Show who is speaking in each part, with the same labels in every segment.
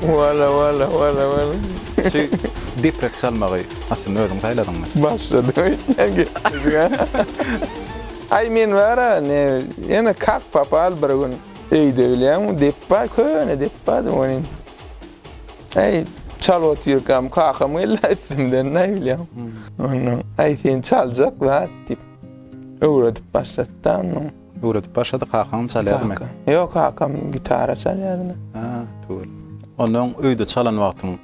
Speaker 1: Wala wala wala wala. Şu deprek çalmagy aslynda özüň saýladyňmy? Başlady öýtmän
Speaker 2: gepleşige. Aý men bara ne ýene kak papal bir gün öýde bilýäňmi depba köne depbady welin aý çalyp otyrkam kakam geldi üstümden aý bilýäňmi. Ondan aý sen çaljak zat diýip öwredip başlady da ondan. Öwredip başlady
Speaker 1: kakaňam çalýarmy? Ýok kakam
Speaker 2: gitara çalýar ine. Hä tüwel.
Speaker 1: Onda öň öýde çalan wagtyň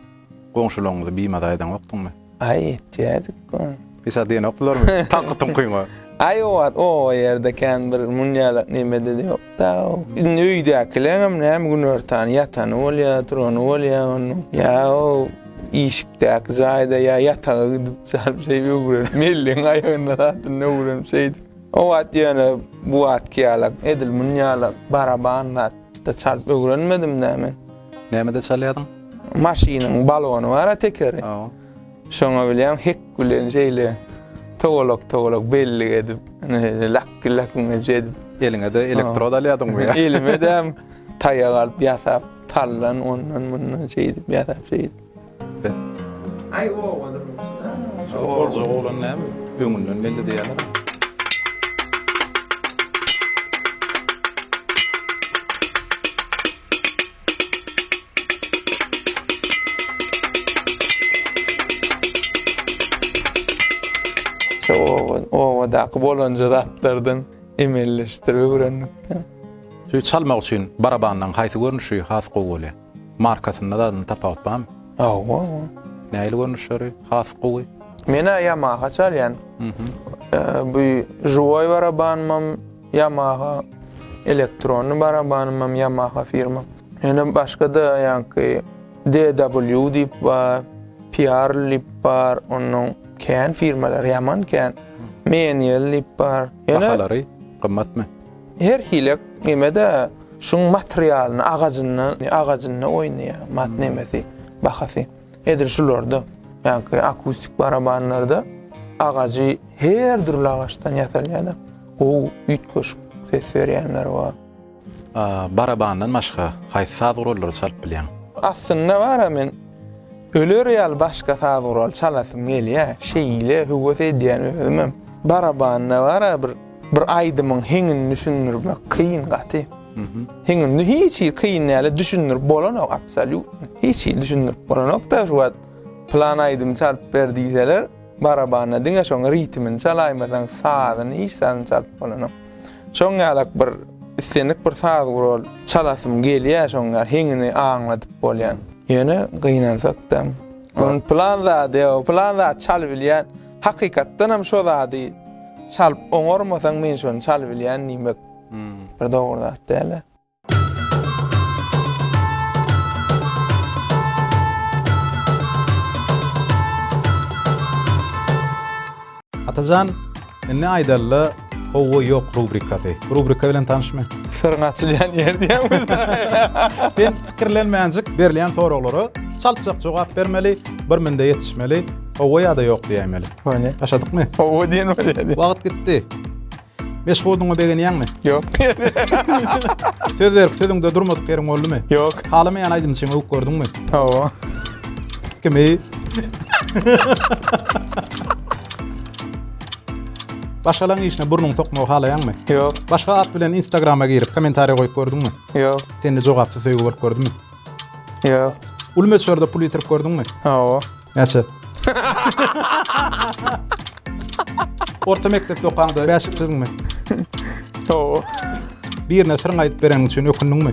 Speaker 1: goňşularyňyzy bimaza edeňokdyňmy? Aý etýädik
Speaker 2: go. Pişat
Speaker 1: diýenokdylarmy taňky tuňkyňa? Aý o wagt o
Speaker 2: ýerde kän bir munýalak nemede-de ýokda. Indi öýdäkileňem näme günortan ýatany bolýar, turany bolýar onuň. Ýa o işikdäki jaýda ýa ýataga gidip çalyp şeýdip öwrenip mellegiň aýagynda zatynda öwrenip şeýdip. O wagt ýöne bu wagtky ýalak, edil muny ýalak baraban zat-da çalyp öwrenmedim-dä men. Nämede
Speaker 1: çalýardyň? Maşynyň
Speaker 2: balony bar-a tekeri. Hawa. Şoňa bilýän hek bilen şeýle towalak-towalak bellik edip, şeýle lakki-lakkiňeje edip. Eliňe-de elektrod
Speaker 1: alýardyňmy? Elime-de
Speaker 2: taýak alyp ýasap, taldan ondan-mundan şeýdip ýasap şeýdip. Aý owadan bolsun. Boljak
Speaker 1: oglan näme öňünden belli diýýärler.
Speaker 2: Şu owadan owadaky bolanja zatlardan emelleşdirip öwrendik. Söýt
Speaker 1: çalmak üçin barabanlaň haýsy görnüşi has gowy bolýar? Markasynda zadyna tapawut barmy? Hawa. Nähili görnüşleri has gowy? Men-ä Yamaha
Speaker 2: çalýan. Bu Juwoý barabanymam Yamaha, elektronny barabanymam Yamaha firma. Ýöne başga-da ýaňky DW diýip bar, Pearl diýip bar, onuň kän firmalary, ýaman kän. Meniel diýip bar. Bahalary
Speaker 1: gymmatmy? Her hile
Speaker 2: nemede şuň materialyny agajyny agajyny oýnaýa mat nemesi bahasy. Edil şularda ýa-ki akustik barabanlarda agajy her dürli agaçdan ýasalýada gowy üýtgeşik ses berýänler bar.
Speaker 1: Barabandan başga haýsy saz gurallary çalyp bilýäň? Aslynda bara
Speaker 2: men öler ýaly başga saz guraly çalasym gelýä. Şeýle höwes edýän özümem. Barabanda bara bir Bir aýdymyň heňini düşündirmek kyn gaty. Heňini hiç hili kyn däl, düşündirip bolanok absolýutno. Hiç hili düşündirip bolanok-da şu wagt plan aýdym çalyp ber diýseler, barabanda diňe şoň ritmini çalaýmasaň sazyny hiç zadyny çalyp bolanok. Şoň ýalak bir islendik bir saz gural çalasym gelýär şoň ýaly heňini aňladyp bolýan. Ýöne gynansak-da, plan zady ýok, plan zat çalybilýän. Hakykatdanam şo zady çalyp oňarmasaň men şony çalybilýän diýmek bir dogry zat dälä.
Speaker 1: Atajan, indi aýdalyda Howwa ýok rubrikasy. Bu rubrika bilen tanyşmy? Syryň açylýan ýer diýýämiz.
Speaker 2: Sen
Speaker 1: pikirlenmänjik
Speaker 2: berilýän
Speaker 1: soraglara çaltjak jogap bermeli, bir minde ýetişmeli, Hawa ýa-da ýok diýäýmeli. Hany. Başladykmy?
Speaker 2: Hawa
Speaker 1: diýen bolýar.
Speaker 2: Wagt gitdi.
Speaker 1: Meşhudyňa begenýäňmi? Ýok. Söz berip sözüňde durmadyk ýeriň boldumy? Ýok. Halamaýan
Speaker 2: aýdymçyňy öwüp
Speaker 1: gördüňmi? Hawa.
Speaker 2: Kimi?
Speaker 1: Başgalaryň işine burnuňy sokmagy halaýaňmy? Ýok. Başga at
Speaker 2: bilen
Speaker 1: Instagrama girip kommentariýa goýup gördüňmi? Ýok. Sende
Speaker 2: jogapsyz söýgi
Speaker 1: bolup gördümi? Ýok.
Speaker 2: Uly möçberde
Speaker 1: pul ýitirip gördüňmi? Hawa. Näçe? Orta mekdepde okaňda bäşik çyzdyňmy?
Speaker 2: Hawa.
Speaker 1: Birine syryňy aýdyp bereniň üçin ökündiňmi?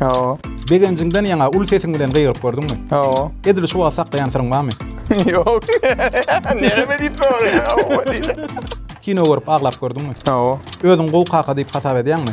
Speaker 1: Hawa.
Speaker 2: Begenjiňden ýaňa
Speaker 1: uly sesiň bilen gygyryp gördüňmi? Hawa. Edil şu wagt
Speaker 2: saklaýan
Speaker 1: syryň barmy? Ýok.
Speaker 2: Näme diýip soraýaň? Hawa diýdim. Kino görüp
Speaker 1: aglap gördüňmi? Hawa. Özüňi gowy
Speaker 2: kaka diýip
Speaker 1: hasap edýäňmi?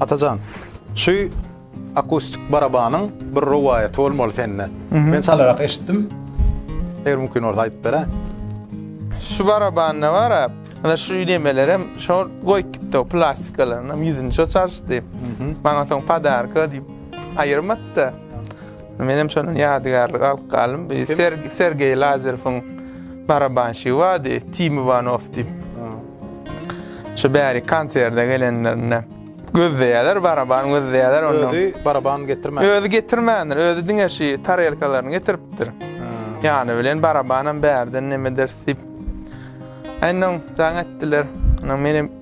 Speaker 1: Atajan, şu akustik barabanyň bir rowaýaty bolmaly sende. Men çalarak eşitdim. Eger mümkin bolsa aýdyp bere. Şu
Speaker 2: barabanda bar a, ana şu nemelerem şol goýup gitdi o plastikalaryny, ýüzüni şo çalyşdy. Maňa soň podarka diýip aýyrmady-da. Menem şondan ýadygärlik alyp galdym. Bir Sergeý Lazerowyň barabanşygy bardy, Tim Iwanow diýip. Şu bäri konserde gelenlerinde gözleýärler, baraban gözleýärler ondan. Özi baraban getirmändir.
Speaker 1: Özi getirmändir,
Speaker 2: özi diňe şu tarelkalaryny getiripdir. Ýany bilen barabanam bärden nemedir diýip. Ondan jaň etdiler. Ondan menem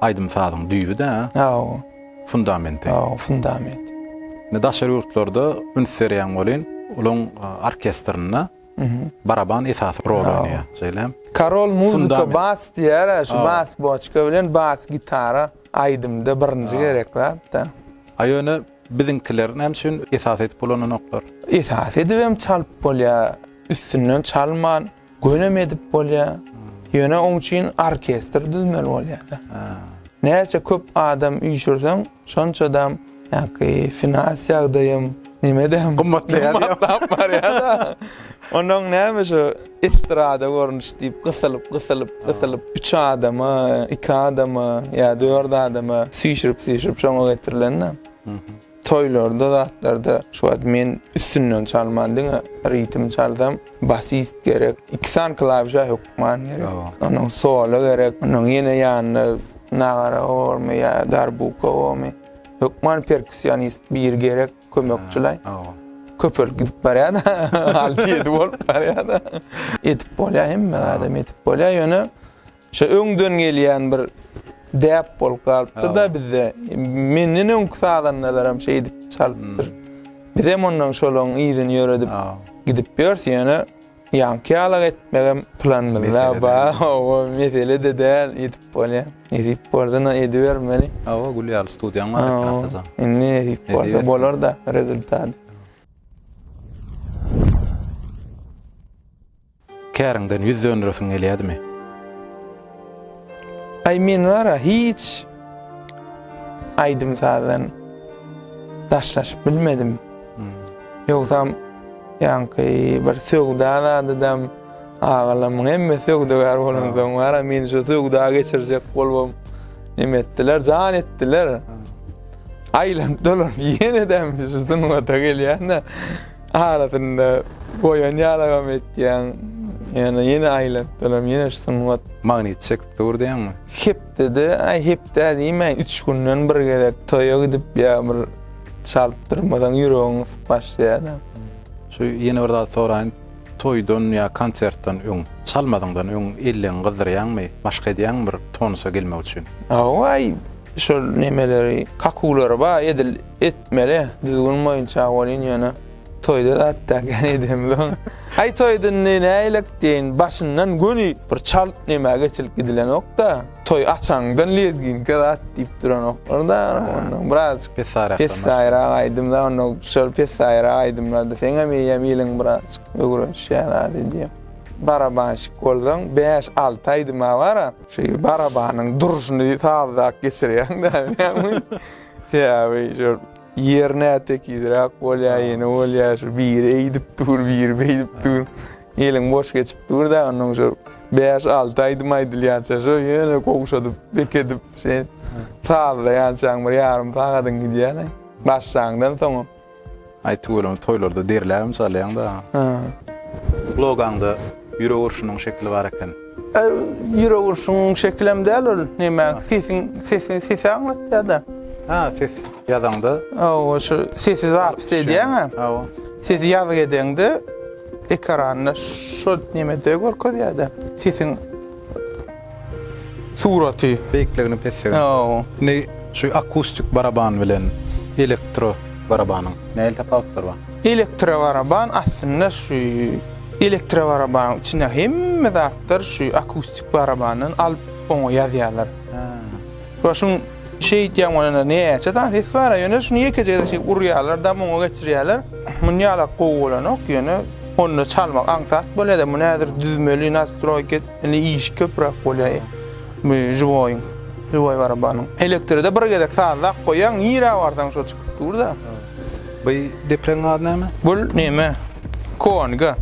Speaker 1: Aýdym-sazyň düýbi-dä. Hawa.
Speaker 2: Fundamenti.
Speaker 1: Hawa, fundamenti.
Speaker 2: Indi daşary
Speaker 1: ýurtlarda üns berýän welin, olaryň orkestrinde baraban esasy rol oýnaýar. Şeýlemi? Karol muzika
Speaker 2: bas diýer-ä, şu bas boçka bilen bas gitara aýdymda birinji gerek zat-da. A ýöne
Speaker 1: biziňkiler näme üçin esas edip ulananoklar? Esas edibem
Speaker 2: çalyp bolýar, üstünden çalman. Gönem edip bolýa. Ýöne oň üçin orkestr düzmeli bolýada. Näçe köp adam üýşürseň, şonçadam ýaňky finans ýagdaýym, nimedem gymmatlaýar. Gymmatlap
Speaker 1: barýada.
Speaker 2: Onuň näme şu estrada görnüşi diýip gysylyp, gysylyp, gysylyp, üç adama, iki adama ýa dört adama süýşürip, süýşürip şoňa getirilen-de. Toýlarda zatlarda şu wagt men üstünden çalman diňe ritm çalsam basist gerek iki sany klawişa hökman gerek onuň solo gerek onuň ýene ýanyna nagara bormy ýa darbuka bormy hökman perkussionist biri gerek kömekçilaý köpelip gidip barýada alty ýedi bolup barýada edip bolýa hemme adam edip bolýa ýöne Şo öňden gelýän bir däp bolup galypdyr-da bizde. Menden öňki sazandalaram şeýdip çalypdyr. Bizem ondan şolaryň yzyny ýöredip gidip ýörüs. Ýöne ýaňky ýaly-a etmegem planymyzda bar. Hawa, mesele-de däl, edip bolýar. Nesip bolsa-da edibermeli. Hawa, gül ýaly
Speaker 1: studiýaň bar eken Atajan. Indi nesip bolsa
Speaker 2: bolar-da rezultat.
Speaker 1: Käriňden ýüz döndüresiň gelýädimi?
Speaker 2: Aý men bar-a hiç aýdym-sazdan daşlaşyp bilmedim. Ýogsam ýaňky bir söwda zadydam agalarymyň hemme söwdagär bolansoň bar-a meni şu söwda geçirjek bolubam neme etdiler, jan etdiler. Aýlanyp dolanyp ýene-de şu sungata gelýän-de. Arasynda goýan ýalagam etýäň. Ýöne ýene aýlap durarym, ýene şu sungat. Magnit çekip dur
Speaker 1: diýýäňmi? Hepdede,
Speaker 2: aý hepde-ä diýmäýin, üç günden bir gezek toýa gidip ýa bir çalyp
Speaker 1: durmasaň
Speaker 2: ýüregiň
Speaker 1: gysyp
Speaker 2: başlaýar-a. Şu
Speaker 1: ýene bir zat
Speaker 2: soraýyn,
Speaker 1: toýdan ýa konsertden öň, çalmazyňdan öň elleňi gyzdyrýaňmy, maşk edýäňmi bir tonusa gelmek üçin? Hawa, aý
Speaker 2: şol nemeleri, kakulary bar edil. Etmeli. Düzgün boýunça welin ýöne toýda zat däl ýa neýdemzoň. Aý toýda indi näýlek diýeýin başyndan göni bir çalt nämä geçilip gidilenokda. Toý açaňdan lezginka zat diýip duranoklar-da ondan birazjyk pessaýyrak aýdym-da onda şol pessaýyrak aýdymlarda seňem eýýäm iliň birazjyk öwrenişýär zat edýär. Barabanşik bolsaň bäş-alty aýdyma bar-a. Şu barabanyň durşuny sazdak geçirýäň-dä bilýäňmi? Sebäbi şol ýer nä tekizräk bolýar, ýene bolýar şu biri eýdip dur, biri beýdip dur. Eliň boş geçip dur-da, onnoň şol bäş-alty aýdym aýdylýança şo ýene gowşadyp, bekedip, şeýdip sazlaýançaň bir ýarym sagadyň gidýär-le. Başlaňdan soňam. Aý tüweleme
Speaker 1: toýlarda derläbem çalýaňda. Hä. Logaňda ýürek urşunyň şekili bar eken. Ýürek
Speaker 2: urşuň şekilem däl ol näme sesiň sesi sesi aňlatýada. Hä ses
Speaker 1: ýazaňda. Hawa şu
Speaker 2: sesi zapis edýäňä. Hawa. Sesi ýazgy edeňde ekranda şo nemede görkezýäda sesiň Suraty. Beýikligini pesligini.
Speaker 1: Ýoo. Indi şu akustik baraban bilen elektro barabanyň nähili tapawutlary bar? Elektro baraban
Speaker 2: aslynda şu elektro barabanyň içinde hemme zatlar şu akustik barabandan alyp oňa ýazýarlar. Şo şuň şeýdýän bolanda näçe sany ses bar-a ýöne şuny ýekeje gezek şeýdip urýarlar da muňa geçirýärler. Muny ýalak gowy bolanok ýöne onda çalmak aňsat bolýada muny häzir düzmeli nastroýka. Indi iş köpräk bolýa bu žiwoýyň, žiwoý barabanyň. Elektride bir gezek sazlap goýaň, nirä barsaň şo çykyp dur-da. Bu
Speaker 1: depregiň ady näme? Bul neme,
Speaker 2: Koange.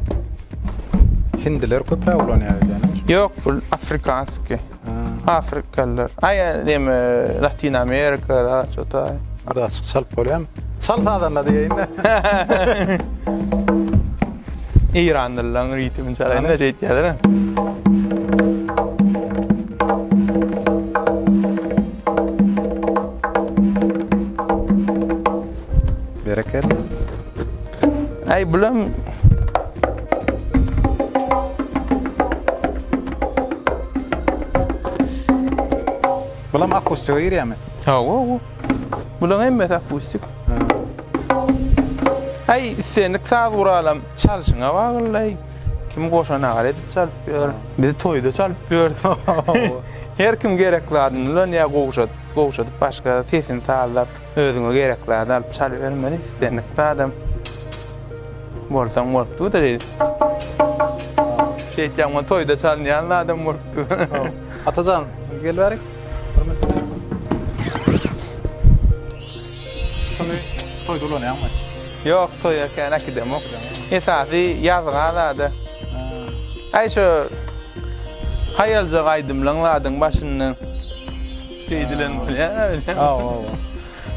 Speaker 1: Hindiler köpräk ulanýar öýdýänim. Ýok, bul
Speaker 2: afrikanskiý. Afrikalylar. Aý, neme, Latin Amerika da, şo taý. Biraz açyk çalyp
Speaker 1: bolýamy? Çal sazanda diýeýin-de.
Speaker 2: Eýranlylaryň ritmini çalaýyn-da şeýt Ay
Speaker 1: bulam Bulam akustika girýärmi? Hawa, hawa.
Speaker 2: Bulam hemmesi akustik. Ay istenik saz guralam çalşyňa bagylay. Kim goşan agar edip çalyp ýör. Bizi toýda çalyp ýör. Her kim gerek zadyny bilen ýa gowşat, gowşadyp başga sesini sazlap, özüňe gerek zady alyp çalyp bermeli. Istenik zadam bolsaň bolupdyr. Şeýtýän toýda çalynýan zadam bolupdyr. Atajan,
Speaker 1: gel bärik. Toýda ulanýaňmy? Ýok, toýa
Speaker 2: kän äkidemok. Esasy ýazga zada. Aý şu haýaljak aýdymlaň zadyň başynda diýdilen bolýa. Aw, aw, aw.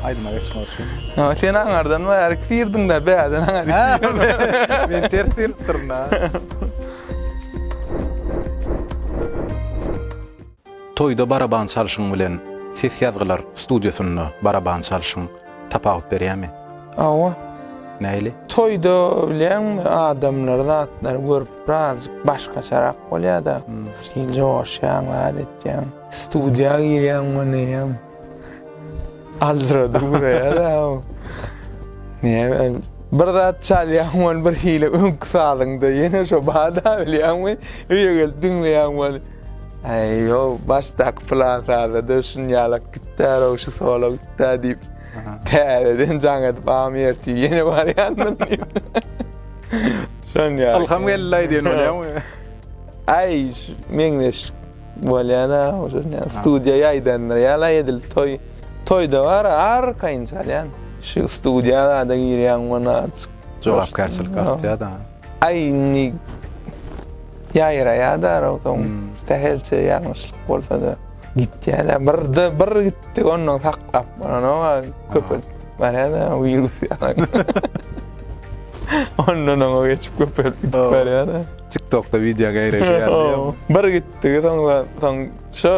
Speaker 1: Aýdyma geçmek üçin. Ha, sen aňardan
Speaker 2: we her ikisi ýerdiňde bäden aňar. Men
Speaker 1: ters ýeripdirin ha. Toýda baraban çalşyň bilen ses ýazgylar studiýasynda baraban çalşyň tapawut berýärmi? Hawa.
Speaker 2: Nähili?
Speaker 1: Toýda
Speaker 2: bileňmi adamlar zatlary görüp birazjyk başgaçarak bolýada. Hil joşýaň zat etýäň. Studiýa girýäň mundan eýýäm. Aljyradyp ugraýar-a o. Näme, bir zat çalýaň weli birhili öňki sazyňda ýene şo bar-da bilýäňmi, öýe gelip diňleýäň weli. Äý, ýok, başdaky plan sazda-da şunýalak gitdär-ow, şu solo gitdär diýip, täzeden jaň edip am ertir ýene barýandyryn diýip. Şonýaly. Ylham geldi-laý diýen bolýaňmy?
Speaker 1: Äý,
Speaker 2: meňzeş. Bolýana ujurnya studiýa ýaýdandyr ýala edil toý toýda bar arkaýyn çalýan şu studiýa zada girýan mana jogapkärçilik
Speaker 1: artýada aý indi
Speaker 2: ýaýraýada ozon sähelçe ýalňyşlyk bolsada gitýada birde bir gitdi ondan saklap bolanoga köpelip barýada wirus ýaly ondan oňa geçip köpelip barýada TikTokda video
Speaker 1: geýreşýär diýýär. Bir gitdigi
Speaker 2: soňra soň şu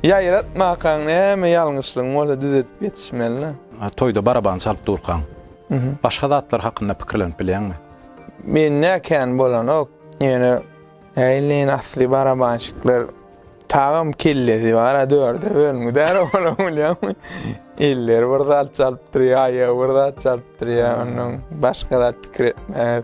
Speaker 2: ýaýratmakaň näme ýalňyşlygyň bolsa düzedip ýetişmeli.
Speaker 1: Toýda baraban çalyp durkaň. Başga zatlar hakynda pikirlenip bilýäňmi?
Speaker 2: Mende kän bolanok. Ýöne Äýleýin asly barabanşikler tagam kellesi bar-a dörde bölüngidär olam bilýäňmi? Elleri bir zat çalyp durýar, aýagy bir zat çalyp durýar onnoň başga zat pikir etmez.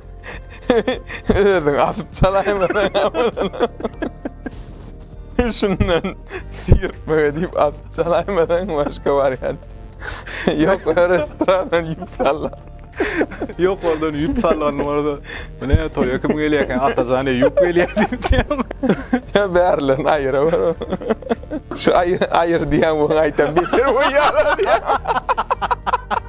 Speaker 2: Özüň asyp çalaýma. Şundan sirtmege diýip asyp çalaýmasaň başga wariant. Ýok, restorandan ýüp sallan. Ýok,
Speaker 1: ondan ýüp sallan orada. Mine toýa kim gelýär eken? Atajan Eýýup gelýär diýdim. Ya
Speaker 2: bärlerini aýyra ber. Şu aýyr aýyr diýen bu aýtan beter bolýar.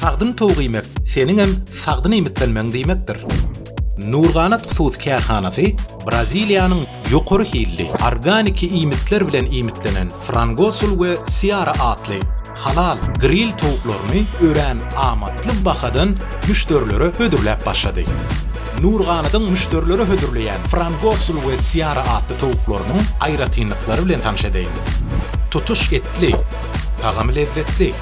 Speaker 3: Sagdyn towuk iýmek seniňem sagdyn iýmitlenmegiň diýmekdir. Nurganat hususy kärhanasy Braziliýanyň ýokary hilli, organiki iýmitler bilen iýmitlenen Frangosul we Seara atly halal gril towuklaryny örän amatly bahadan müşderilere hödürläp başlady. Nurganatyň müşderilere hödürleýän Frangosul we Seara atly towuklarynyň aýratynlyklary bilen tanyş edeýin. Tutuş etli. Tagamy lezzetli.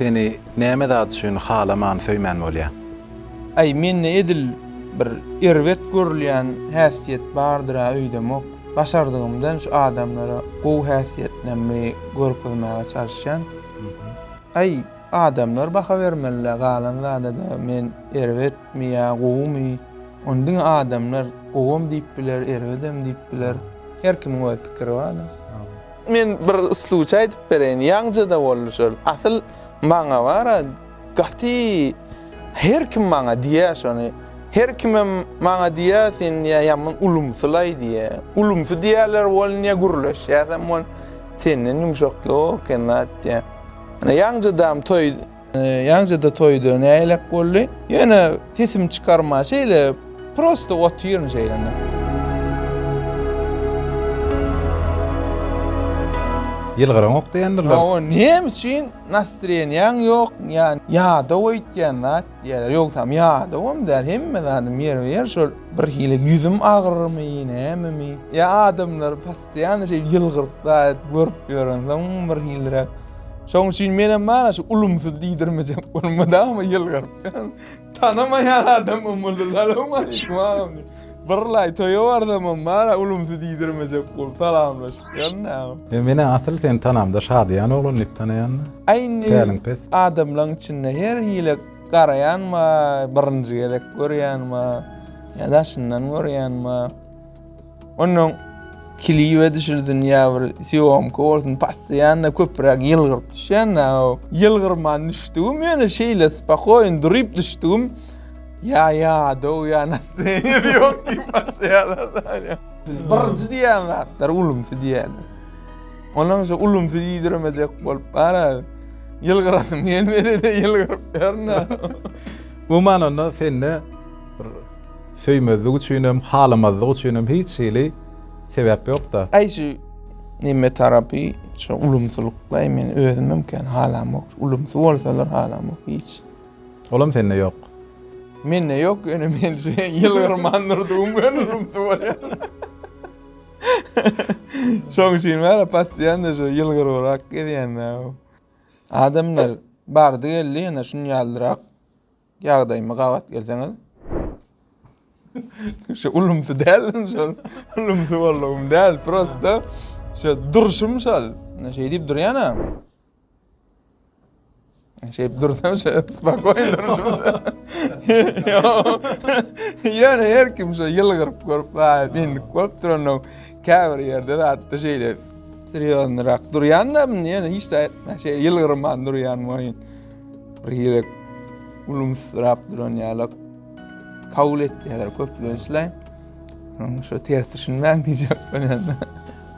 Speaker 1: Seni näme zat üçin halaman söýmän bolýa? Aý mende
Speaker 2: edil bir erbet görülýän häsiýet bardyra öýdemok. Başardygymdan şu adamlara gowy häsiýetlerimi görkezmäge çalyşýan. Aý adamlar baha bermelidä galan zadada men erbetmi ýa gowumy ony diňe adamlar gowam diýip biler erbedem diýip biler her kimiň öz pikiri barda. Men bir sluçy aýdyp bereýin, ýaňja-da boldy şol. Asyl maňa bar-a, gaty her kim maňa diýýä şony. Her kimem maňa diýýä, sen diýýä, ýaman ulumsy-laý diýýä. Ulumsy diýýäler welin ýa gürleşýäsem welin, senden ýumşak ýok eken zat diýýä. Ýaňja-dam toý. Ýaňja-da toýda näýlek boldy. Ýöne sesimi çykarman şeýle prosta otyryn şeýle. Ýylgyraňok
Speaker 1: diýendirler. Ýa o näme üçin
Speaker 2: nastroýeniýaň ýok, ýa ýadaw öýtýän zat diýýärler. Ýogsam ýadawam däl, hemme zadym ýerbe-ýer şol bir hili ýüzüm agyrmy, nämemi. Ýa adamlar Ýany şeýdip ýylgyryp zaýat görüp ýörensoň bir hilräk. Şoň üçin menem bana şu ulumsyz diýdirmejek bolup mydama ýylgyryp ýörün. Tanamaýan adam bolmaly salam aleýkum agam diýip. Bir laý toýa barsamam bana ulumsyz diýdirmejek bolup salamlaşyp ýörün. E menä asyl
Speaker 1: seni tanamda Şadyýan oglan diýip tanaýanda. Aý indi Päliň pes.
Speaker 2: adamlaň içinde her hili garaýan bar, birinji gezek görýän bar, ýa daşyndan görýän bar. Ondan kiliwe düşürdin ya bir syomka bolsun pastaýanna köpräk ýylgyryp düşýän da o. Ýylgyrman düşdügim ýöne şeýle spakoýn durup düşdügim ya ya do ya nastoýeniýa ýok diýip başlaýarlar. Biz birinji diýýän zatlar ulumsy diýýärler. Onuň şu ulumsy diýdiremejek bolup bara ýylgyrasym gelmedi de ýylgyryp ýörün. Bu
Speaker 1: manada sende bir Söýmezlik üçinem, halamazlyk üçinem hiç hili sebäp ýok-da. Äý şu
Speaker 2: neme tarapy şu ulumsylykdaý men özümem kän halamok şu ulumsy bolsalar halamok hiç. Olam sende
Speaker 1: ýok. Mende
Speaker 2: ýok ýöne men şu ýylgyrman durdugym bilen ulumsy bolýan. Şoň üçin bärä passiýanda şu ýylgyrybrak gezýän-ä. Adamlar bardy geldi ýene şunýaldyrak Ýagdaýyma gabat gelseňiz. Şu ulumsy däldim şol. Ulumsy boldugym däl, prosta şu durşum şol. Şeý diýip durýana. Şeýip dursam şu spakoýn durşum. Ýöne her kim şu ýylgyryp görüp, baý, indik bolup duranda käbir ýerde zatda şeýle serýoznyrak durýanda, ýöne hiç zat etmän şeýle ýylgyrman durýan boýun. Bir ýere gülümsirap duran ýalak kabul etýärler köplençle. Onuň şu ters düşünmäň diýjek bolýan.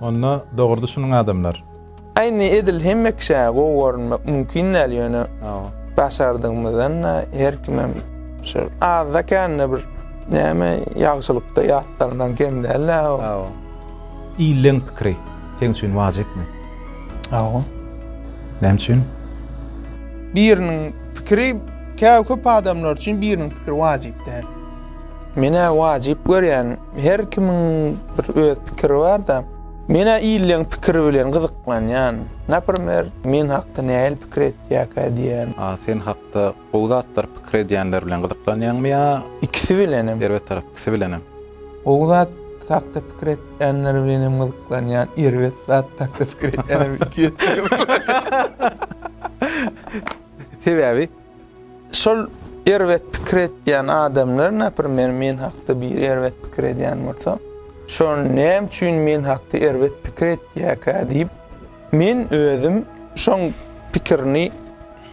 Speaker 2: Onda
Speaker 1: dogry düşüniň adamlar. Aýny edil
Speaker 2: hemme kişä gowy görünmek mümkin däl ýöne başardygymyzdan her kimem şu azda kände bir näme ýagşylykda ýatlaryňdan kem däl-ä. Illeň
Speaker 1: pikiri seň üçin wajypmy? Hawa. Näme üçin?
Speaker 2: Biriniň pikiri käw köp adamlar üçin biriniň pikiri wajyp däl. Menä wajyp görýän. Her kimiň bir öz pikiri bar-da. Menä illeň pikiri bilen gyzyklanýan. Naprimer, men hakda nähili pikir etýärkä diýýän. A sen hakda
Speaker 1: Gowy zatlar pikir edýänler bilen gyzyklanýaňmy ýa. Ikisi bilenem.
Speaker 2: Erbet tarap ikisi bilenem.
Speaker 1: Gowy zat
Speaker 2: hakda pikir etýänler bilenem gyzyklanýan erbet zat hakda pikir etýänler bilen iki esse gyzyklanýan.
Speaker 1: Sebäbi?
Speaker 2: Şol erbet pikir etýän adamlar naprimer men hakda biri erbet pikir edýän bolsa şol näme üçin men hakda erbet pikir etýäkä diýip men özüm şoň pikirini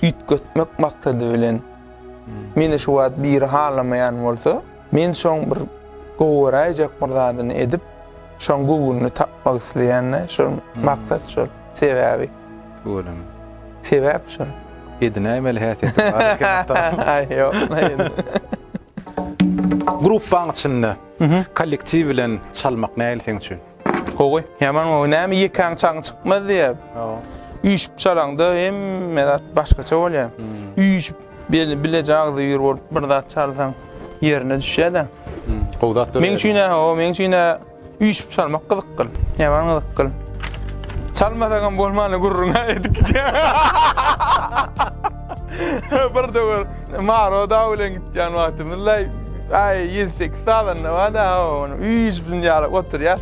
Speaker 2: üýtgetmek maksady bilen meni şu wagt biri halamaýan bolsa, men şoň bir gowy göräýjek bir zadyny edip, şoň göwnüni tapmak isleýän-de, şol maksat şol, sebäbi.
Speaker 1: Göwünimi. Sebäp
Speaker 2: şol. Edinäýmeli
Speaker 1: häsiýetim bar eken. Aý, ýok. Gruppaň içinde kollektiw bilen çalmak nähili seň üçin? Gowy. Ýaman
Speaker 2: gowy. Näme ýekäň çagyň çykmaz diýýär. Üýşüp çalaňda hemme zat başgaça bolýar. Hmm. Üýşüp beli bileje agzy ýür bolup bir zat çalsaň ýerine düşýär-de. Hmm. Gowy zat döreýär.
Speaker 1: Meň üçin näme? O
Speaker 2: meň üçin üýşüp çalmak gyzykly. Ýaman gyzykly. Çalmasaň hem bolmany gürrüňe edip gidýär. Bir döwür Maro dagy bilen gitýän wagtymyzda, aý, ýedi-sekiz sazanda bar-da, ony üýşüp dünýäläp oturýas.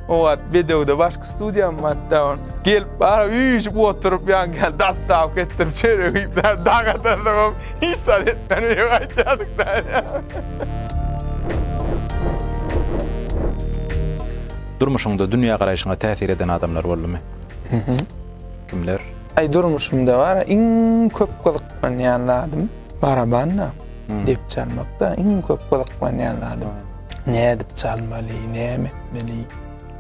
Speaker 2: O wagt bedewde başky studiýam bar-da, ony gelip bar, üýşüp oturyp, ýaňky dastawka etdirip, çörek iýip, daga dazalam hiç zat etmän öýe gaýtýardyk-da.
Speaker 1: Durmuşyňda dünýägaraýşyňa täsir eden adamlar boldumy? Kimler? Aý
Speaker 2: durmuşymda bar iň köp gyzyklanýan zadym barabanna dep çalmakda iň köp gyzyklanýan zadym. Nädip çalmaly, näme etmeli?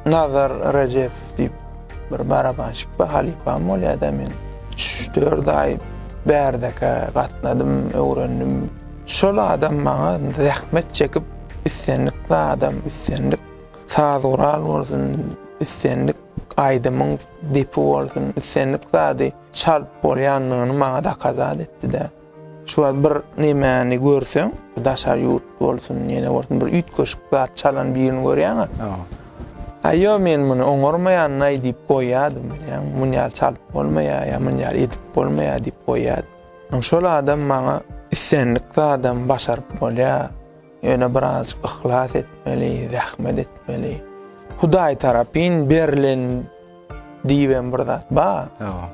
Speaker 2: Nazar Rejep diýip bir barabanşik bar, halypam bolýada men. Üç-dört aý bärdeke gatnadym, öwrendim. Şol adam maňa zähmet çekip islendik zadam, islendik saz gural bolsun, islendik Aýdymyň depi bolsun islendik zady çalt bolýandygyny maňa dakazat etdi-dä. Şu wagt bir nemäni görseň, daşary ýurt bolsun, ýene bolsun bir üýtgeşik zat çalan birini görýäň-ä. Aý ýok men muny oňarmaýanyn-aý diýip goýýardym bilýäňmi, muny ýaly çalyp bolmaýar ýa muny ýaly edip bolmaýar diýip goýýardym. Şol adam maňa islendik zadam başaryp bolýar. Ýöne birazajyk yhlas etmeli, zähmet etmeli. Hudaý tarapyn berlen diýibem bir zat bar. Hawa.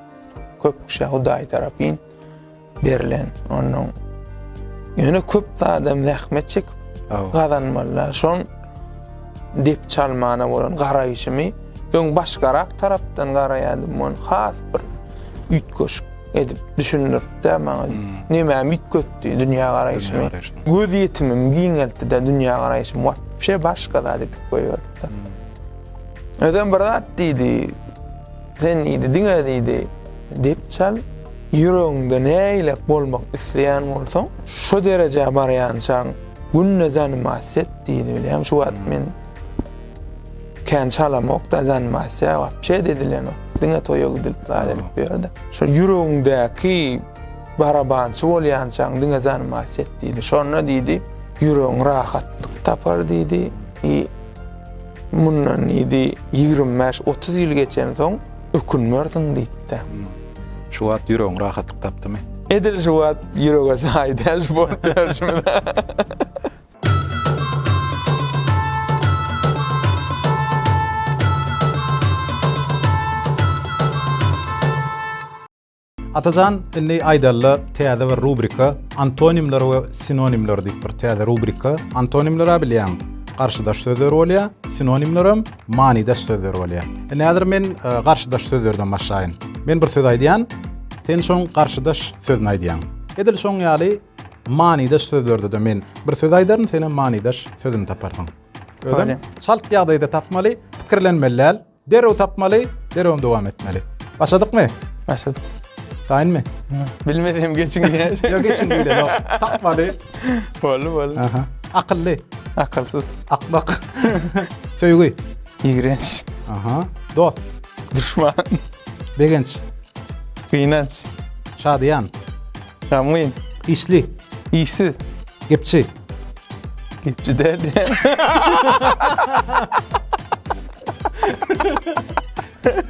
Speaker 2: Köp kişä Hudaý tarapyn berlen. Onuň ýöne köp zadam zähmet çekip gazanmalylar. Şoň dep çalmana bolan garaýşymy öň başgarak tarapdan garaýardym, men has bir üýtgeşik edip düşündirdi maňa. Näme mit götdi dünýä garaýşymy. Göz ýetimim giňeltdi de dünýä garaýşym wapşe başga zat edip goýberdi. Özem bir zat diýdi. Sen diýdi diňe diýdi. Dep çal ýüregiňde näýlek bolmak isleýän bolsaň, şu derejä barýançaň günde zanyma set diýdi. Şu wagt men Kän çalamokda zanimasiýa, wapşe edilenok. Diňe toýa gidilip zat edip bu ýerde. Şol ýüregiňdäki barabançy bolýançaň diňe zanimasiýa et diýdi. Şonda diýdi, ýüregiň rahatlyk tapar diýdi. I mundan diýdi, ýigrimi bäş, otuz ýyl geçensoň ökünmersiň diýdi-de. Şu wagt
Speaker 1: ýüregiň rahatlyk tapdymy? Edil şu wagt
Speaker 2: ýürege jaý däl şu bolup ýörşümiz.
Speaker 3: Atajan indi aýdalyda täze bir rubrika antonimler we sinonimler diýip bir täze rubrika antonimler bilýän garşydaş sözler bolýar sinonimler hem manydaş sözler bolýar indi häzir men e, garşydaş sözlerden başlaýyn men bir söz aýdýan sen şoň garşydaş sözüni aýdýan edil şoň ýaly Manydaş sözlerde-de men bir söz aýdaryn, senem manydaş sözüni taparsyň. Özem çalt ýagdaýda tapmaly, pikirlenmeli däl. Derrew tapmaly, derrewem dowam etmeli. Başladykmy? Başladyk.
Speaker 2: Taýynmy?
Speaker 3: Bilmesem geçiň
Speaker 2: diýä. Ýok, geçiň diýle, ýok.
Speaker 3: Tapmaly. Boldy, boldy.
Speaker 2: Aha. Akylly.
Speaker 3: Akylsyz.
Speaker 2: Akmak.
Speaker 3: Söýgi. Ýigrenç.
Speaker 2: Aha.
Speaker 3: Dost. Duşman.
Speaker 2: Begenç. Gynanç. Şadyýan.
Speaker 3: Gamgyn.
Speaker 2: Işli.
Speaker 3: Işsiz.
Speaker 2: Gepçi. Gepçi däl.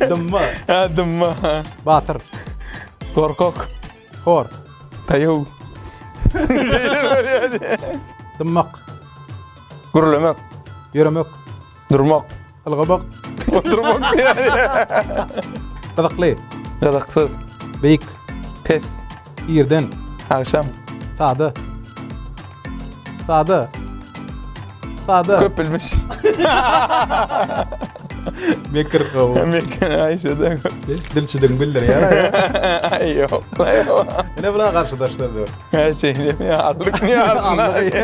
Speaker 2: Dymma.
Speaker 3: Ha, dymma.
Speaker 2: Batyr.
Speaker 3: Gorkak.
Speaker 2: Hor.
Speaker 3: Taýaw.
Speaker 2: Dymmak. Gürlemek. Ýöremek.
Speaker 3: Durmak.
Speaker 2: Ylgamak.
Speaker 3: Oturmak
Speaker 2: diýýär.
Speaker 3: Gyzykly. Gyzyksyz.
Speaker 2: Beýik.
Speaker 3: Pes.
Speaker 2: Irden.
Speaker 3: Agşam.
Speaker 2: Sada.
Speaker 3: Sada. Sada. Köp bilmiş. Mekir gaw. Mekir aýşada.
Speaker 2: Dilçidiň bildir
Speaker 3: ýa. Aý ýok.
Speaker 2: Ine bula garşydaşlar
Speaker 3: dur. Häçe ýa
Speaker 2: aldyk ýa aldyk.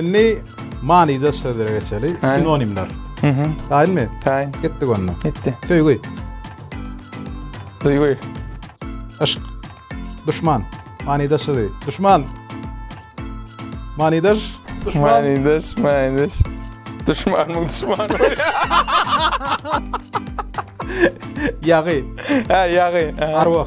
Speaker 2: Indi
Speaker 3: Manydaş sözlere geçeli. Sinonimler. Mhm. Taýynmy? Taýyn. Gitdik onda.
Speaker 2: Gitdi.
Speaker 3: Söýgi.
Speaker 2: Duýgy. Yşk.
Speaker 3: Duşman. Manydaş sözi. Duşman. Manydaş. Duşman. Manydaş, manydaş.
Speaker 2: Duşman mı duşman mı?
Speaker 3: Yagy. Ha
Speaker 2: yagy. Arwah.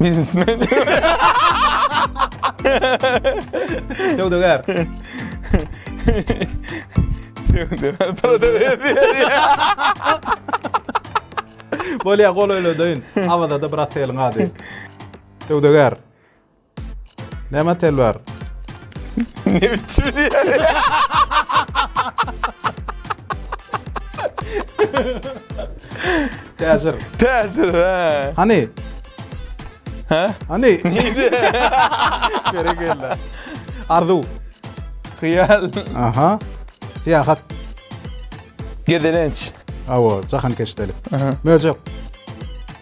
Speaker 2: Biznesmen.
Speaker 3: Söwdagär.
Speaker 2: Söwdagär para
Speaker 3: Bolýa golaýladyň. Awazada bir oteliň ady. Söwdagär. Näme telwar?
Speaker 2: Ne biçim diýýär? Täsir. Täsir he. Hany? He? Hany? Neydi?
Speaker 3: Berekella. Arzuw.
Speaker 2: Hyýal. Aha.
Speaker 3: Syýahat. Gezelenç.
Speaker 2: Awa, jahankeşdelik.
Speaker 3: Möjek.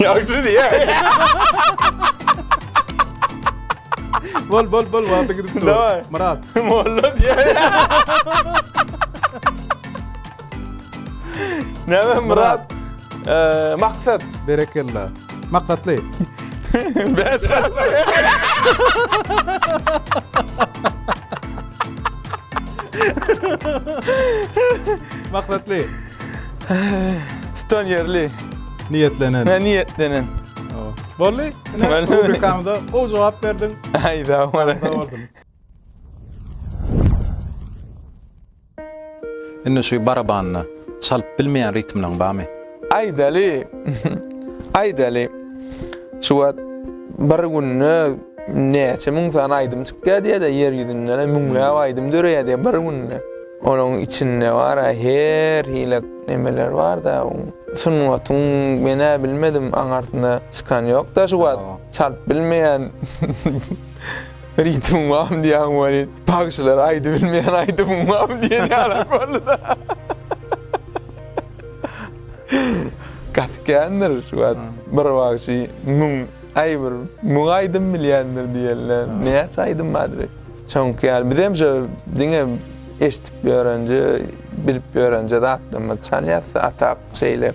Speaker 3: Ýagşy
Speaker 2: diýä.
Speaker 3: Bol bol bol wagty gidip dur. Daway. Myrat.
Speaker 2: Molla
Speaker 3: diýä.
Speaker 2: Näme Myrat? Eee, maksat. Berekella.
Speaker 3: Maksatly.
Speaker 2: Bäş tane.
Speaker 3: Maksatly. Tutan
Speaker 2: ýerli. Niýetlenen. Hä,
Speaker 3: niýetlenen.
Speaker 2: Boldy.
Speaker 3: Ine,
Speaker 2: rubrikamyza gowy
Speaker 3: jogap berdiň. Aý, sag bol. Sag
Speaker 1: bolsun. Indi şu barabanyny çalyp bilmeýän ritmlaň barmy? Aýdaly.
Speaker 2: Aýdaly. Şu wagt bir günde näçe müň sany aýdym çykýar diýýär-de, ýer ýüzünde müňläp aýdym döreýär diýýär bir günde. Onuň içinde bar a her hile nemeler barda sungatyň men a bilmedim aňarsyna çykan ýokda şu wagt çalt bilmeýän ritmim bam diýýän weli bagşylar aýdy bilmeýän aýdymym bam diýen ýaly bolduda gaty kändir şu wagt bir bagşy müň aý bir müň aýdym bilýändir diýenler näçe aýdym bardyr Çünki ýaly bizem şu diňe eşitip ýörenje, bilip ýörenje zatlarymyz çalýar. Atak şeýle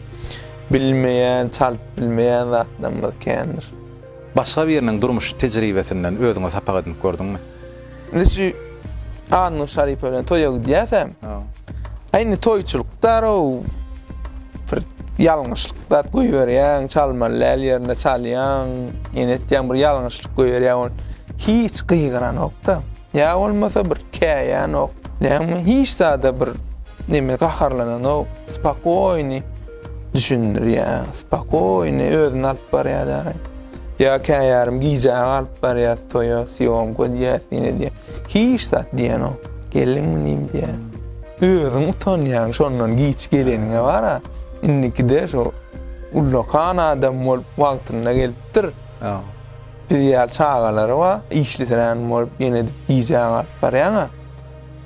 Speaker 2: bilmeýän, çalyp bilmeýän zatlarymyz kändir. Başga biriniň
Speaker 1: durmuş tejribesinden özüňe sapak edinip gördüňmi? Indi şu
Speaker 2: Annur Şaripowa bilen toýa gidýäsem, indi toýçulykdar-ow, Bir ýalňyşlyk zat goýberýäň, çalmaly däl ýerinde çalýaň, ýene etýäň bir ýalňyşlyk goýberýäň, ol hiç gygyranok-da. Ýa bolmasa bir käýänok, näme hiç zada bir neme gaharlananok, spakoýny düşündirýär, spakoýny özüni alyp barýar ýaly. Ýa käýarym gijä galyp barýas toýa, sýomka diýýäs diýne diýýä. Hiç zat diýenok. Geldiň munym diýýä. Özüň utanýaň şondan giç geleniňe bara. Indikide şo ullakan adam bolup wagtynda gelipdir. Biz ýaly çagalary bar, işlisirän bolup ýene gijä galyp barýaň-a.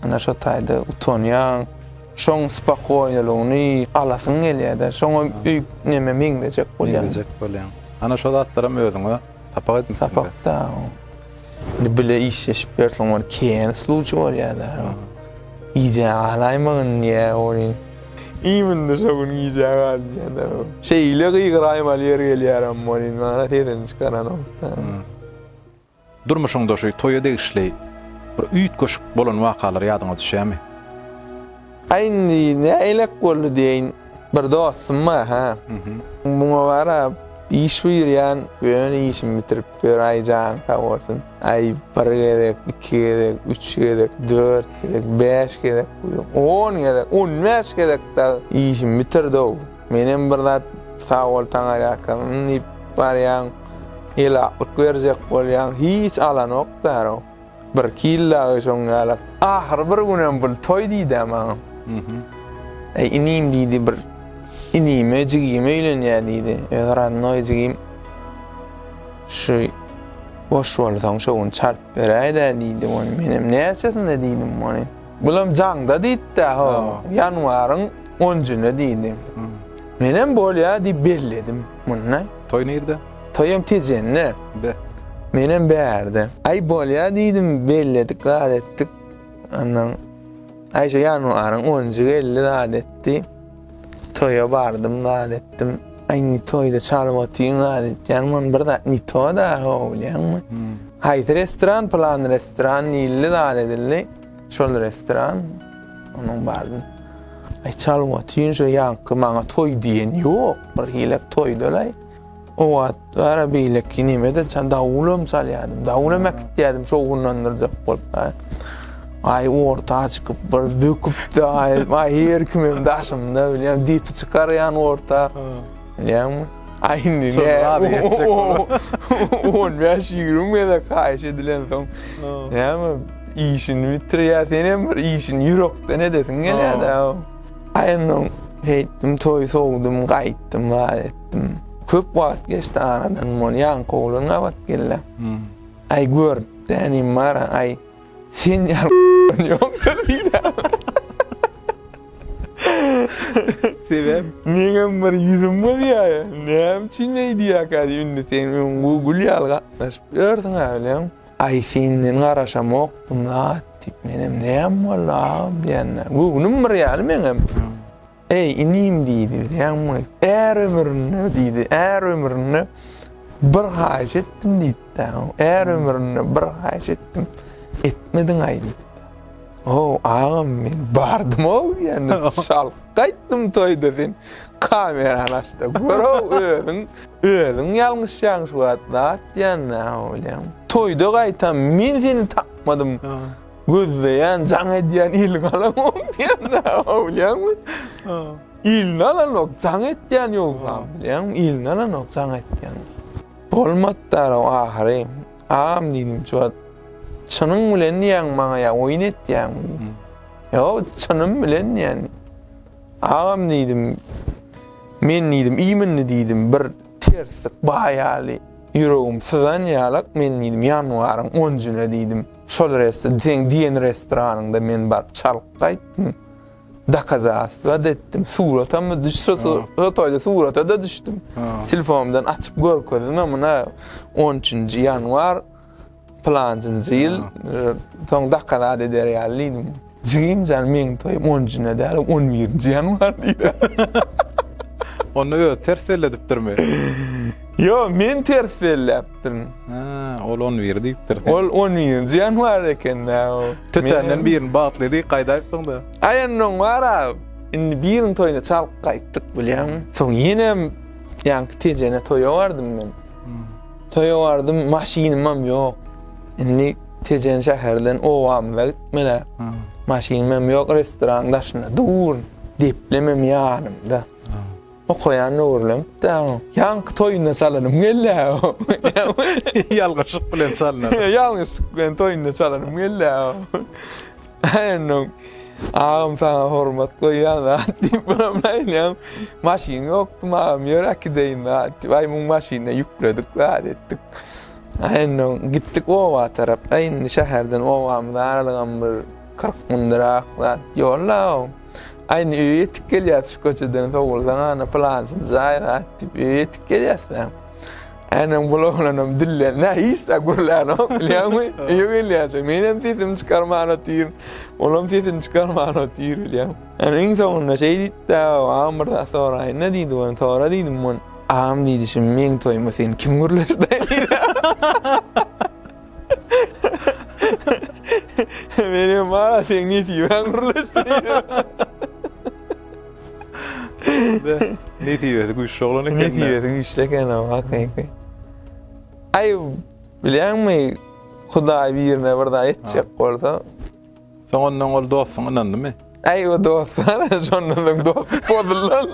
Speaker 2: Ana şo taýda utanýaň. Şoň spakoýniligyny alasyň gelýär-de, şoňa öýüp neme meňzejek bolýaň. Meňzejek bolýaň. Ana şo
Speaker 1: zatlaram özüňe sapak edinipsiň. Sapak-da o.
Speaker 2: Indi bile işleşip ýörseň bir kän sluçi bolýar-da. Gijä galaýmagy indi ýa welin. Iým indi şo gün gijä gal diýýär-de. Şeýle gygyraýmaly ýer gelýärem welin, maňa sesini çykaranok-da. Durmuşyňda
Speaker 1: şu toýa degişli bir üýtgeşik bolan wakalar ýadyňa düşýärmi? Aý indi
Speaker 2: näleik boldy diýeýin, bir dostum bar ha. Muňa garap iş buýurýan, ýöne işini bitirip ýör, aý janyň sag bolsun. Aý bir gezek, iki gezek, üç gezek, dört gezek, bäş gezek, on gezek, on bäş gezek dagy işini bitirdi-ow. Menem bir zat sag bol Taňarýaka diýip barýan. Elaklyk berjek bolýaň hiç alanok därow. Bir kil dagy şoň ýalak. Ahyry bir günem bul toý diýdä maňa. Eý inim diýdi bir inime jigim öýlenýä diýdi. Öz radnoý jigim şu boş bolsaň şo gün çalt beräýdä diýdi ony. Menem näçesinde diýdim ony. Bulam jaňda diýtdä ho. Ýanwaryň on njyny diýdi. Menem bolýa diýip belledim. Munda. Toý nirde?
Speaker 1: Toýam Tejende.
Speaker 2: Be. Menem bärde. Aý bolýa diýdim, belledik, zat etdik. Andan Aýşe ýanwaryň onunjy geldi, zat etdi. Toýa bardym, zat etdim. Aý indi toýda çalyp otyň, zat etýän men bir zat ni to da, bilýäňmi? Haýsy restoran, plan restoran diýildi, zat edildi. Şol restoran, onuň bardy. Ay çalyp otyň şu ýaňky maňa toý diýen ýok, bir hilek toýdalay. O wagt bara beýleki nimede çan dawulam çalýardym. Dawulam äkitýärdim şo gunlandyrjak bolup. Ay orta çykyp bir döküpdi ay, ay her kimim daşymda bilýän diýip çykarýan orta. Näme? Aý indi ne? On bäş ýigrimi gezek haýyş edilensoň, näme işini bitirýär, sen hem bir işini ýürekden edesiň gelýär-dä. Aý indi Beýtdim toý sowdum gaýtdym waz etdim. Köp wagt geçdi aradan, mol ýaňky oglan gabat geldi. Aý görüp dänim bar, aý Sen ýa ýokdur diýdi. Sebäp? Meňem bir ýüzüm gyzýar. Näme üçin öýdýärkä diýip, indi sen öňňü gül ýaly gatnaşyp ýörsüň äwlem. Aý senden garaşamokdym-la diýip, menem näme boldy agam diýende, göwnüm bir ýaly meňem. Eý, inim, diýdi, bilýäňmi, är ömründe, diýdi, är ömründe bir haýyş etdim, diýdi-de, är ömründe bir haýyş etdim, etmediň-aý, diýdi. Ow, agam, men bardym-ow, ýöne şalyk gaýtdym toýda sen kamerany aç-da gör-ow, özüň, özüň ýalňyşýaň şu wagt, zat diýýän-ä, bilýäňmi. Toýda gaýtam men seni tapmadym. Gözleýän, jaň edýän il galamok diýemde, bilýäňmi? Ilini alanok, jaň etýän ýogsa, bilýäňmi? Ilini alanok, jaň etýän. Bolmady-da ahyry. Agam diýdim, şu wagt çynyň bilen diýýäň maňa ýa oýun etýäňmi diýdim. Ýok, çynym bilen diýýän. Agam diýdim, men diýdim, iýmindi diýdim, bir terslik baýaly. Ýüregim syzan ýalak, men diýdim, ýanwaryň 10-njyna diýdim. Şol restoran, seň diýen restoranyňda men baryp çalyp gaýtdym. Dokazastwa-da etdim, suratam-da düş, şo toýda surata-da düşdüm. Telefonumdan açyp görkezdim, muna on üçünji ýanwar, pylanjynjy ýyl, soň dokazat eder ýaly diýdim. Jigim jan meň toýum on jine däl on birinji ýanwar diýdi.
Speaker 1: Onda özi ters belledipdirmi? Ýok
Speaker 2: men ters belläpdirin. Ha ol
Speaker 1: on bir diýipdir. Ol on birinji
Speaker 2: ýanwar ekendä o. Tötänden birini
Speaker 1: bagtly diýip gaýda aýtdyňda. Aýandan wara
Speaker 2: indi biriniň toýuna çalyp gaýtdyk bilýäňmi. Soň ýenem ýaňky tejene toýa bardym men. Toýa bardym maşynymam ýok. Indi Tejen şäherden obamyza gitmeli. Maşynymam ýok, restoranyň daşynda dur. Deplemem ýanymda. Okaýan döwürlerim täň. Ýaňky toýunda çalarym gelle. Ýalňyşlyk
Speaker 1: bilen çalyna. Ýalňyşlyk bilen
Speaker 2: toýunda çalarym gelle. Aýandan agam saňa hormat goýýan zat diýip buram aýdýan. Maşyn ýokdy agam ýöräk gideýin zat diýip. Aý muň maşynyna ýükledik zat etdik. Indi gitdik oba tarap. Indi şäherden obamyza aralygam bir kyrk mündiräk zat ýol-la-ow. Indi öýe ýetip gelýäs şu köçeden sowulsaň ana pylançy jaý zat diýip öýe ýetip gelýäs-dä. Indi bul oglanam dillenmä hiç zat gürlänok bilýäňmi? Öýe gelýänçä menem sesimi çykarman otyryn. Olam sesini çykarman otyr bilýäň. Indi iň soňunda şeý diýdi-de, Agam bir zat soraýyn-da diýdi, Sora diýdim. Agam diýdi şim meň toýuma seni kim gürleşdi diýdi. Men hem aa seň nesibeň gürleşdi diýdim.
Speaker 1: Nesibesi güýçli oglan eken. Nesibesi güýçli
Speaker 2: eken o hakyky. Aý bilýäňmi Hudaý birine bir zat etjek bolsa Soň ondan
Speaker 1: ol dostuň ynandymy? Äý o dost
Speaker 2: hany şondan soň dostluk bozulan.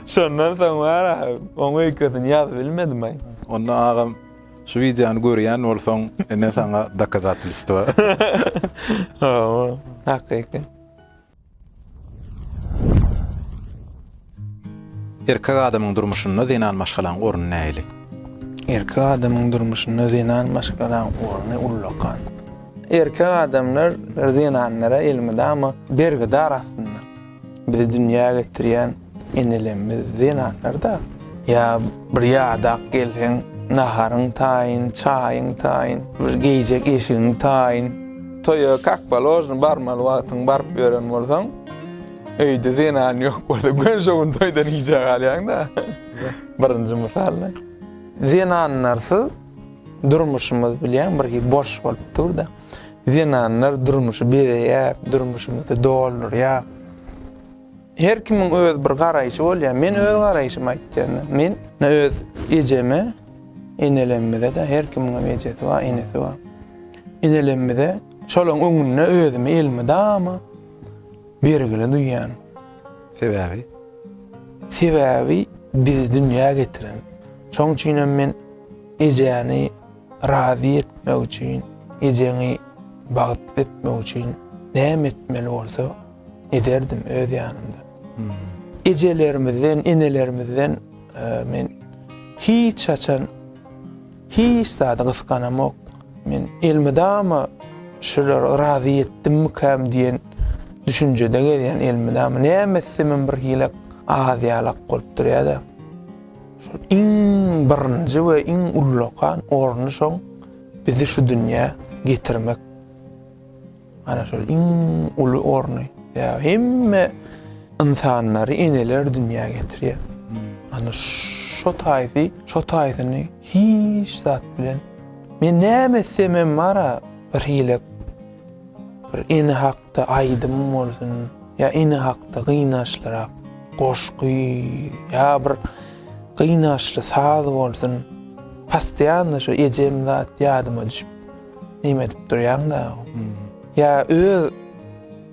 Speaker 2: Şondan soň wara oň öýkesini ýazyp bilmedim aý. Onda agam
Speaker 1: şu wideony görýän bolsaň ine saňa dokazatelstwo.
Speaker 2: Hakyky.
Speaker 1: Erkek adamyň durmuşynda zenan maşgalaň orny nähili? Erkek
Speaker 2: adamyň durmuşynda zenan maşgalaň orny ullakan. Erkek adamlar zenanlara elmydama bergidar aslynda. Bizi dünýä getirýän Inilem biz zenanlarda. Ýa bir ýadak gelseň, naharyň taýyn, çaýyň taýyn, bir geýjek eşigiň taýyn. Toýa kak položno barmaly wagtyň baryp ýören bolsaň, öýde zenan ýok bolsa, gön şo gün toýdan gijä galýaň-da. Birinji mysal-da. Zenanlarsyz durmuşymyz bilýäň bir hili boş bolup dur-da. Zenanlar durmuşy bezeýär, durmuşymyzy doldurýar. Her kimiň öz bir garaýşy bolýar. Men öz garaýşymy aýtýanda, men öz ejeme, enelemimize-de, her kimiňem ejesi bar, enesi bar. Enelemimize şolaryň öňünde özümi elmydama bergili duýýaryn. Sebäbi? Sebäbi bizi dünýä getiren. Şoň üçin hem men ejäni razy etmek üçin, ejeňi bagtly etmek üçin näme etmeli bolsa, Ederdim öz ýanymda. Ejelerimizden, enelerimizden men hiç haçan hiç zady gysganamok. Men elmydama şulara razy etdimmikäm diýen düşünjede gelýän elmydama. Näme etsemem bir hile az ýalak bolup durýar-da. Şol iň birinji we iň ullakan orny şoň bizi şu dünýä getirmek. Ana şol iň uly orny, ýa hemme ynsanlary eneler dünýä getirýär. Ana şo taýsy, şo taýsyny hiç zat bilen Men näme etsem hem bar-a bir hile bir ene hakda aýdym bolsun, ýa ene hakda gynançlyrak goşgy, ýa bir gynançly saz bolsun, postoýanno şo ejem zat ýadyma düşüp. Neme edip durýaň dagy? Ýa öz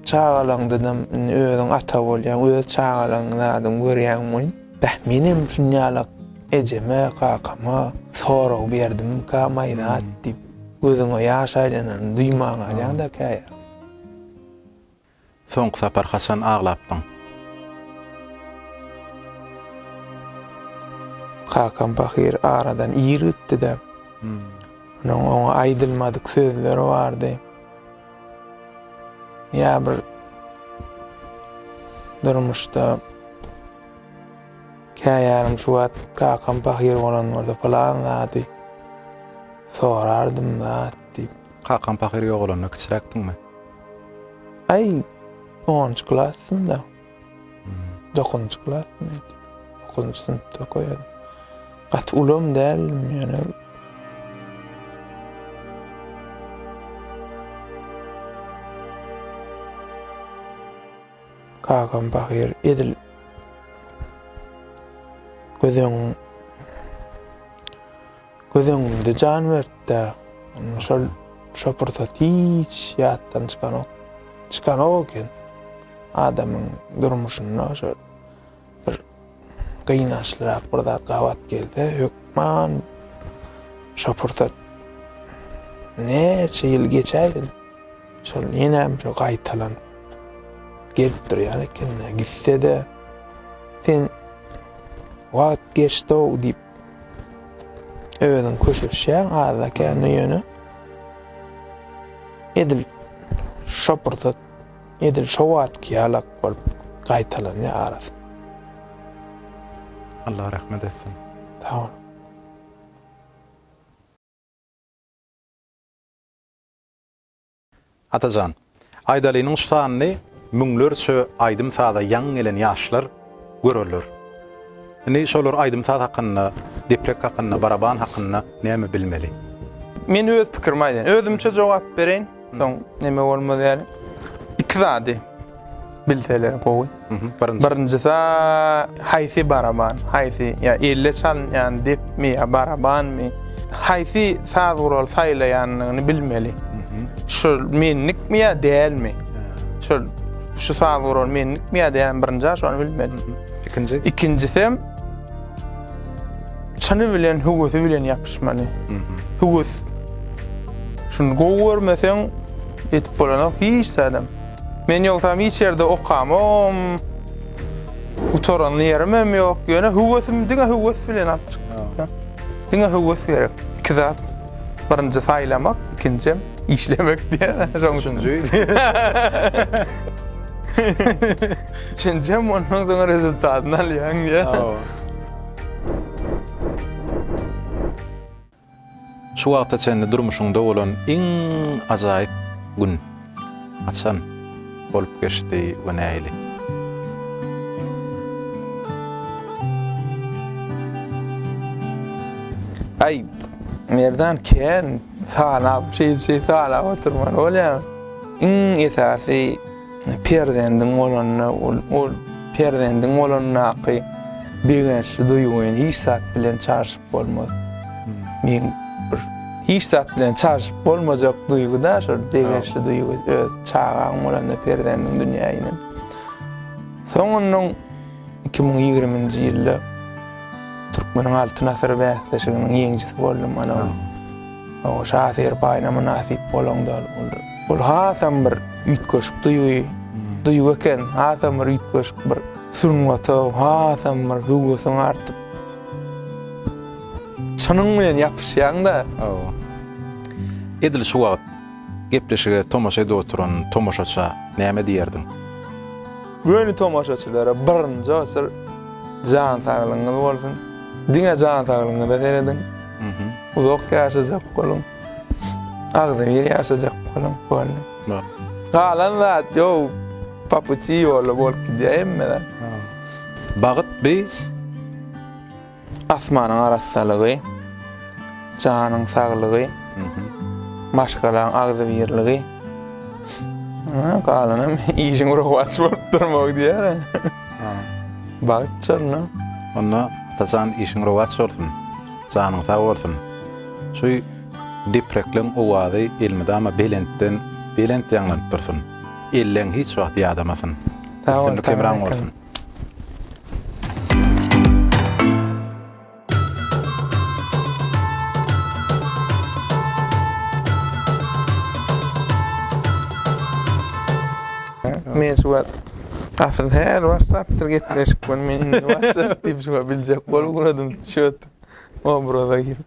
Speaker 2: çagalaňdanam indi özüň ata bolýaň, öz çagalaňyň zadyny görýäňmi welin? Beh, menem şunýalak ejeme, kakama sorag berdimika maýzat diýip, gözüňe ýaş aýlanany duýman galýaň-da käýa.
Speaker 1: Soňky sapar haçan aglapdyň?
Speaker 2: Kakam pahyr aradan ir gitdi-de, onuň oňa aýdylmadyk sözleri bardy. Ýa bir durmuşda käýarym şu wagt kakam pahyr bolan bolsa pylan zady sorardym-da diýip. Kakam pahyr
Speaker 1: ýogalanda kiçiräkdiňmi?
Speaker 2: Aý, onunjy klasdym-da. Dokuzynjy klasdym indi. Dokuzynjy synpda okaýardym. Gaty ulam däldim, ýöne. Kakam pahyr edil göz öňüň Göz öňümde jan berdi-de, şol şo pursat hiç ýatdan çykanok. Çykanok eken. Adamyň durmuşynda şo bir gynançlyrak bir zat gabat gelse, hökman şo pursat näçe ýyl geçäýsin, şol ýenem şo gaýtalanyp gelip durýar eken-de, gitse-de sen wagt geçdi-ow diýip Özüň köşeşýäň azda kände ýöne edil şo pursat edil şo wagtky ýalak bolup gaýtalanýar arasy.
Speaker 1: Allah rahmet etsin. Sag ol. Atajan, Aýdalynyň şu sanyny müňlerçe aýdym-saza ýaňy gelen ýaşlar görerler. Indi şolar aýdym-saz hakynda, deprek hakynda, baraban hakynda näme bilmeli? Men öz
Speaker 2: pikirimi aýdaýyn. Özümçe jogap bereýin, soň näme bolmaz ýaly. Iki zady. bilseler gowy. Birinjisi haýsy baraban, haýsy ýa elle çalynýan depmi ýa barabanmy? Haýsy saz guraly saýlaýanyny bilmeli. Şu menlikmi ýa dälmi? Şu şu saz guraly menlikmi ýa dälmi? Birinji şony bilmeli. Ikinji. Ikinjisi hem çyny bilen hüwüsi bilen ýapyşmaly. Hüwüs. Şuny gowy görmeseň, ýetip bolanok hiç zadam. Men ýogsam hiç ýerde okamam. Gutaranly ýerimem ýok. Ýöne höwesim diňe höwes bilen alyp çykdym. Diňe höwes gerek. Iki zat. Birinji saýlamak, ikinjem işlemek diýen. Şoň üçin. Üçünjem ondan soň rezultatyny alýaň diýen.
Speaker 1: Şu wagta çenli durmuşyňda bolan iň ajaýyp gün haçan bolup geçdi we nähili?
Speaker 2: Aý, Merdan kän sanap, şeýdip-şeýdip sanap oturman bolýar. Iň esasy, Perzendiň bolanda ol perzendiň bolandaky begençli duýgyny hiç zat bilen çalşyp bolmaz. Men bir hiç zat bilen çalşyp bolmajak duýgy-da şol begençli duýgy öz çagaň bolanda perzendiň dünýä inen. Soňundan 2020-nji ýylda Türkmeniň Altyn asyry bäsleşiginiň ýeňijisi boldum. Ana ol Oňa şahyr paýyna mynasyp bolan dal boldy. Bul hasam bir üýtgeşik duýgy, duýgy eken, hasam bir üýtgeşik bir sungata hasam bir höwesiň artyp, çynyň bilen ýapyşýaň-da. Hawa.
Speaker 1: Edil şu wagt gepleşige tomaşa edip oturan tomaşaça näme diýerdiň?
Speaker 2: Göni tomaşaçylara birinji oçur jan saglygyňyz bolsun. Diňe jan saglygyňyza serediň. Uzak ýaşajak boluň. Agzybir ýaşajak boluň. Boldy. Galan zat ýok. Po puti ýola bolup gidýär hemme zat.
Speaker 1: Bagyt bi.
Speaker 2: Asmanyň arassalygy, janyň saglygy, maşgalaň agzybirligi, galanam işiň rowaç bolup durmagy diýer. Bagt şonda. Onda
Speaker 1: Atajan işiň rowaç bolsun, janyň sag bolsun. Şu deprekleň owazy elmydama belentden belent ýaňlanyp dursun. Elleň hiç wagt ýadamasyn. Üstünlik hemraň bolsun.
Speaker 2: Men şu wagt asyl her WhatsApp'dyr gepleşik men indi WhatsApp diýip şu biljek bolup uradym şöt obraza girip.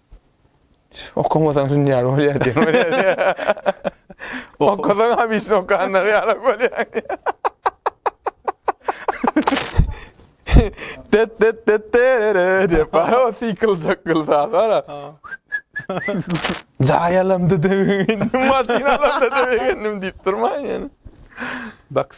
Speaker 2: Okamasaň şun ýaly bolýar diýen bolýar. Okasaň hamisini okanlar ýaly bolýar. Tet tet tet terere diýip bar o siklcak gylsa bar. Jaýalamdy döwüň indi maşynalamda döwüň diýip durmaň ýöne. Bak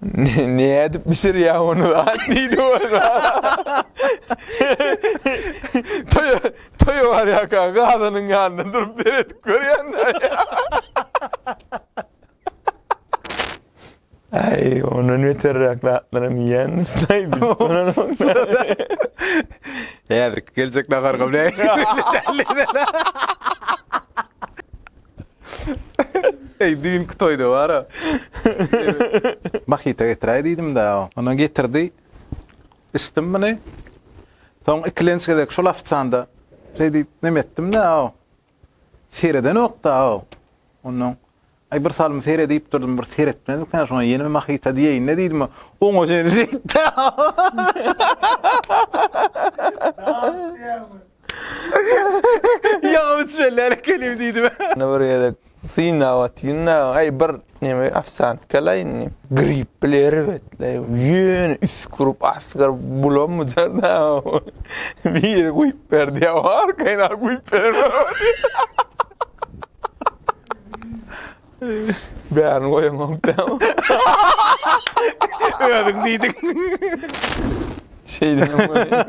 Speaker 2: Nädip bişirýä ony zat diýdi bolsa. Toýa, toýa barýaka gazynyň ýanynda durup seredip görýän. Aý, ondan beterräk zatlaram iýýändir.
Speaker 1: Häzirki geljek naharga bilen. Eý, düýnki toýda bar-a. Mahita getiräý diýdim-dä. Ony getirdi. Içdim muny. Soň ikilenç gezek şol ofisianda şeý diýip neme etdim-dä. Seredenok-da. Onnoň, Aý, bir salym seret diýip durdum, bir seretmedikä, şoňa ýene mahita diýeýin-le diýdim, oňa çenli şeýtdi-ä. Ýa üçrellälik gelim diýdime. Ýene bir gezek
Speaker 2: synap atyn-da, aý bir neme ofsiant gel-aý indi. Grip bile erbetleý, ýöne üsgürip, asgyryp bulamyjar-da. Biri guýup berdi, arkaýyn alyp guýup berenem. Bärini goýamok dämi?
Speaker 1: Özüň diýdiň. Şeýdem
Speaker 2: bolýar.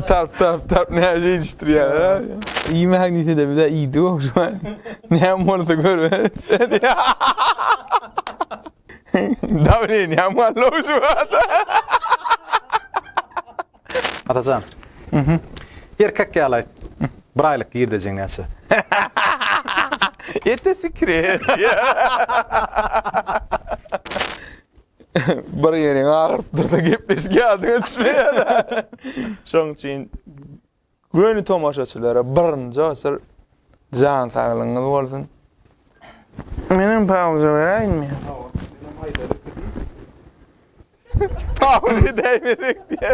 Speaker 2: Tarp tarp tarp näme ýetişdirýärler. Iý magnitede bir de iýdi goşma. Näme bolsa görüber. Dawleniýam galdy şu wagta.
Speaker 1: Atajan. Mhm. Erkek ýaly aýt. Bir aýlyk girdejiň näçe?
Speaker 2: Ete sikri. Bir ýeriň agyryp dursa gepleşik ýadyňa düşmeýär. Şoň üçin Göni tomaşaçylara birinji oçur jan saglygyňyz bolsun. Menem pauza beräýinmi? Pauza däýmedik diýýä.